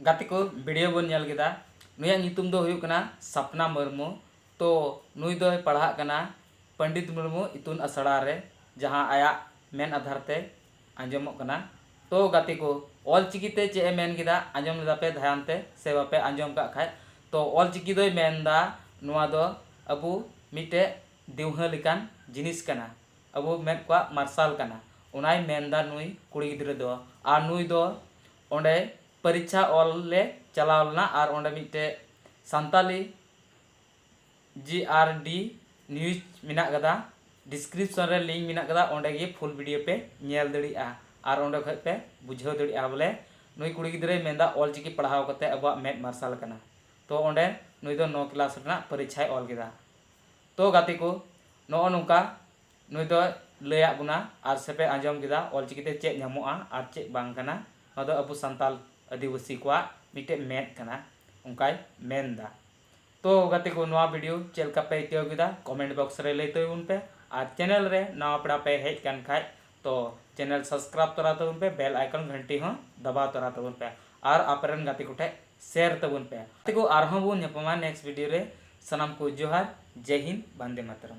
ᱜᱟᱛᱮ ᱠᱚ ᱵᱷᱤᱰᱤᱭᱳ ᱵᱚᱱ ᱧᱮᱞ ᱠᱮᱫᱟ ᱱᱩᱭᱟᱜ ᱧᱩᱛᱩᱢ ᱫᱚ ᱦᱩᱭᱩᱜ ᱠᱟᱱᱟ ᱥᱟᱯᱱᱟ ᱢᱩᱨᱢᱩ ᱛᱚ ᱱᱩᱭ ᱫᱚᱭ ᱯᱟᱲᱦᱟᱜ ᱠᱟᱱᱟ ᱯᱚᱱᱰᱤᱛ ᱢᱩᱨᱢᱩ ᱤᱛᱩᱱ ᱟᱥᱲᱟ ᱨᱮ ᱡᱟᱦᱟᱸ ᱟᱭᱟᱜ ᱢᱮᱱ ᱟᱫᱷᱟᱨ ᱛᱮ ᱟᱸᱡᱚᱢᱚᱜ ᱠᱟᱱᱟ ᱛᱚ ᱜᱟᱛᱮ ᱠᱚ ᱚᱞ ᱪᱤᱠᱤ ᱛᱮ ᱪᱮᱫ ᱮ ᱢᱮᱱ ᱠᱮᱫᱟ ᱟᱸᱡᱚᱢ ᱞᱮᱫᱟ ᱯᱮ ᱫᱷᱟᱭᱟᱱ ᱛᱮ ᱥᱮ ᱵᱟᱯᱮ ᱟᱸᱡᱚᱢ ᱠᱟᱜ ᱠᱷᱟᱡ ᱛᱚ ᱚᱞ ᱪᱤᱠᱤ ᱫᱚᱭ ᱢᱮᱱ ᱫᱟ ᱱᱚᱣᱟ ᱫᱚ ᱟᱵᱚ ᱢᱤᱫᱴᱮᱡ ᱫᱤᱣᱦᱟᱹ ᱞᱮᱠᱟᱱ ᱡᱤᱱᱤᱥ ᱠᱟᱱᱟ ᱟᱵᱚ ᱢᱮᱫ ᱠᱚᱣᱟᱜ ᱢᱟᱨᱥᱟᱞ ᱠᱟᱱᱟ ᱚᱱᱟᱭ ᱢᱮᱱ ᱫᱟ ᱱᱩᱭ ᱠᱩᱲᱤ ᱜᱤᱫᱽᱨᱟᱹ ᱫᱚ ᱟᱨ ᱱᱩᱭ ᱫᱚ ᱚᱸᱰᱮ ᱯᱟᱨᱤᱪᱷᱟ ᱚᱞ ᱞᱮ ᱪᱟᱞᱟᱣ ᱞᱮᱱᱟ ᱟᱨ ᱚᱸᱰᱮ ᱢᱤᱫᱴᱮᱡ ᱥᱟᱱᱛᱟᱞᱤ ᱡᱤ ᱟᱨ ᱰᱤ ᱱᱤᱭᱩᱡᱽ ᱢᱮᱱᱟᱜ ᱟᱠᱟᱫᱟ ᱰᱤᱥᱠᱨᱤᱯᱥᱚᱱ ᱨᱮ ᱞᱤᱝᱠ ᱢᱮᱱᱟᱜ ᱟᱠᱟᱫᱟ ᱚᱸᱰᱮ ᱜᱮ ᱯᱷᱩᱞ ᱵᱷᱤᱰᱤᱭᱳ ᱯᱮ ᱧᱮᱞ ᱫᱟᱲᱮᱭᱟᱜᱼᱟ ᱟᱨ ᱚᱸᱰᱮ ᱠᱷᱚᱡ ᱯᱮ ᱵᱩᱡᱷᱟᱹᱣ ᱫᱟᱲᱮᱭᱟᱜᱼᱟ ᱵᱚᱞᱮ ᱱᱩᱭ ᱠᱩᱲᱤ ᱜᱤᱫᱽᱨᱟᱹᱭ ᱢᱮᱱ ᱮᱫᱟ ᱚᱞ ᱪᱤᱠᱤ ᱯᱟᱲᱦᱟᱣ ᱠᱟᱛᱮ ᱟᱵᱚᱣᱟᱜ ᱢᱮᱫ ᱢᱟᱨᱥᱟᱞ ᱟᱠᱟᱱᱟ ᱛᱚ ᱚᱸᱰᱮ ᱱᱩᱭ ᱫᱚ ᱱᱚ ᱠᱞᱟᱥ ᱨᱮᱱᱟᱜ ᱯᱟᱨᱤᱪᱷᱟᱭ ᱚᱞ ᱠᱮᱫᱟ ᱛᱚ ᱜᱟᱛᱮ ᱠᱚ ᱱᱚᱜᱼᱚᱭ ᱱᱚᱝᱠᱟ ᱱᱩᱭ ᱫᱚᱭ ᱞᱟᱹᱭ ᱟᱫ ᱵᱚᱱᱟ ᱟᱨ ᱥᱮᱯᱮ ᱟᱸᱡᱚᱢ ᱠᱮᱫᱟ ᱚᱞᱪᱤᱠᱤ ᱛᱮ ᱪᱮᱫ ᱧᱟᱢᱚᱜᱼᱟ ᱟᱨ ᱪᱮᱫ ᱵᱟᱝ ᱠᱟᱱᱟ ᱱᱚᱣᱟ ᱫᱚ ᱟᱵᱚ ᱥᱟᱱᱛᱟᱞ ᱟᱹᱫᱤᱵᱟᱹᱥᱤ ᱠᱚᱣᱟᱜ ᱢᱤᱫᱴᱮᱡ ᱢᱮᱫ ᱠᱟᱱᱟ ᱚᱱᱠᱟᱭ ᱢᱮᱱ ᱮᱫᱟ ᱛᱚ ᱜᱟᱛᱮ ᱠᱚ ᱱᱚᱣᱟ ᱵᱷᱤᱰᱤᱭᱳ ᱪᱮᱫ ᱞᱮᱠᱟ ᱯᱮ ᱟᱹᱭᱠᱟᱹᱣ ᱠᱮᱫᱟ ᱠᱚᱢᱮᱱᱴ ᱵᱚᱠᱥ ᱨᱮ ᱞᱟᱹᱭ ᱛᱟᱵᱚᱱ ᱯᱮ ᱟᱨ ᱪᱮᱱᱮᱞ ᱨᱮ ᱱᱟᱣᱟ ᱯᱮᱲᱟ ᱯᱮ ᱦᱮᱡ ᱠᱟᱱ ᱠᱷᱟᱡ ᱛᱚ ᱪᱮᱱᱮᱞ ᱥᱟᱵᱥᱠᱨᱟᱭᱤᱵ ᱛᱚᱨᱟ ᱛᱟᱵᱚᱱ ᱯᱮ ᱵᱮᱞ ᱟᱭᱠᱚᱱ ᱜᱷᱟᱱᱴᱤ ᱦᱚᱸ ᱫᱟᱵᱟᱣ ᱛᱚᱨᱟ ᱛᱟᱵᱚᱱ ᱯᱮ ᱟᱨ ᱟᱯᱮ ᱨᱮᱱ ᱜᱟᱛᱮ ᱠᱚᱴᱷᱮᱡ ᱥᱮᱭᱟᱨ ᱛᱟᱵᱚᱱ ᱯᱮ ᱜᱟᱛᱮ ᱠᱚ ᱟᱨ ᱦᱚᱸ ᱵᱚᱱ ᱧᱟᱯᱟᱢᱟ ᱱᱮᱠᱥᱴ ᱵᱷᱤᱰᱤᱭᱳ ᱨᱮ ᱥᱟᱱᱟᱢ ᱠᱚ ᱡᱚᱦᱟᱨ ᱡᱟᱭ ᱦᱤᱱᱫ ᱵᱟᱱᱫᱮ ᱢᱟᱛᱟᱨᱟᱢ᱾